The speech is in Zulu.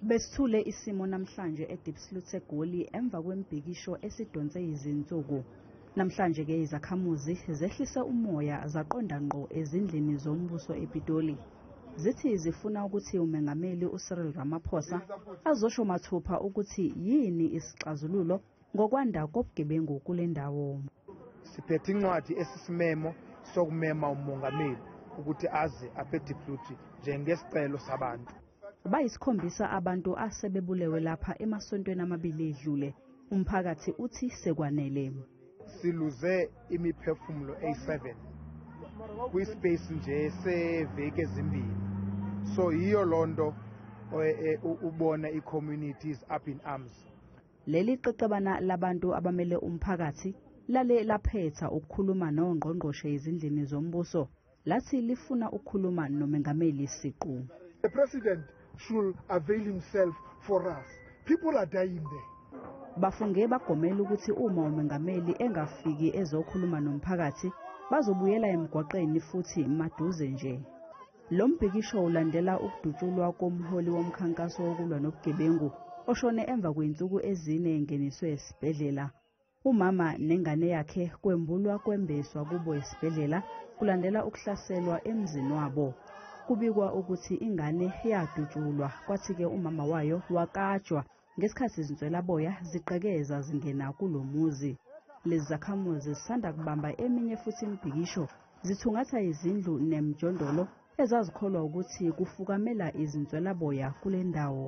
Besithule isimo namhlanje eDiepsloot eGoli emva kwembhikisho esidonse izinsuku. Namhlanje ke izakhamuzi zehlise umoya zaqonda ngqo ezindlini zombuso ePitoli. Zithi zifuna ukuthi uMengameli uCyril Ramaphosa azosho mathupha ukuthi yini isixazululo ngokwanda kobugebengu kule ndawo. Siphethe incwadi esisimemo sokumema umongameli ukuthi aze aphetipluthi njengesicelo sabantu. Bayisikhombisa abantu asebebulewe lapha emasontweni amabili edlule. Umphakathi uthi sekwanele. Siluze imiphefumulo eyi-7 kwispace nje seveki ezimbili. So yiyo lonto e, e, ubona i-community is up in arms. Leli qeqebana labantu abamele umphakathi lale laphetha ukukhuluma nongqongqoshe ezindlini zombuso lathi lifuna ukukhuluma nomengameli siqu. The president should avail himself for us. People are dying there. Bafunge bagomela ukuthi uma umengameli engafiki ezokhuluma nomphakathi, bazobuyela emgwaqeni futhi maduze nje. Lo mbhikisho ulandela ukudutshulwa komholi womkhankaso wokulwa nobugebengu oshone emva kwey'nsuku ezine engeniswe esibhedlela. Umama nengane yakhe kwembulwa kwembeswa kubo esibhedlela kulandela ukuhlaselwa emzini wabo. Kubikwa ukuthi ingane yadutshulwa kwathi-ke umama wayo wakajwa ngesikhathi izinswelaboya zigqekeza zingena kulo muzi lezi zakhamuzi zisanda kubamba eminye futhi imibhikisho zithungatha izindlu nemjondolo ezazikholwa ukuthi kufukamela izinswelaboya kule ndawo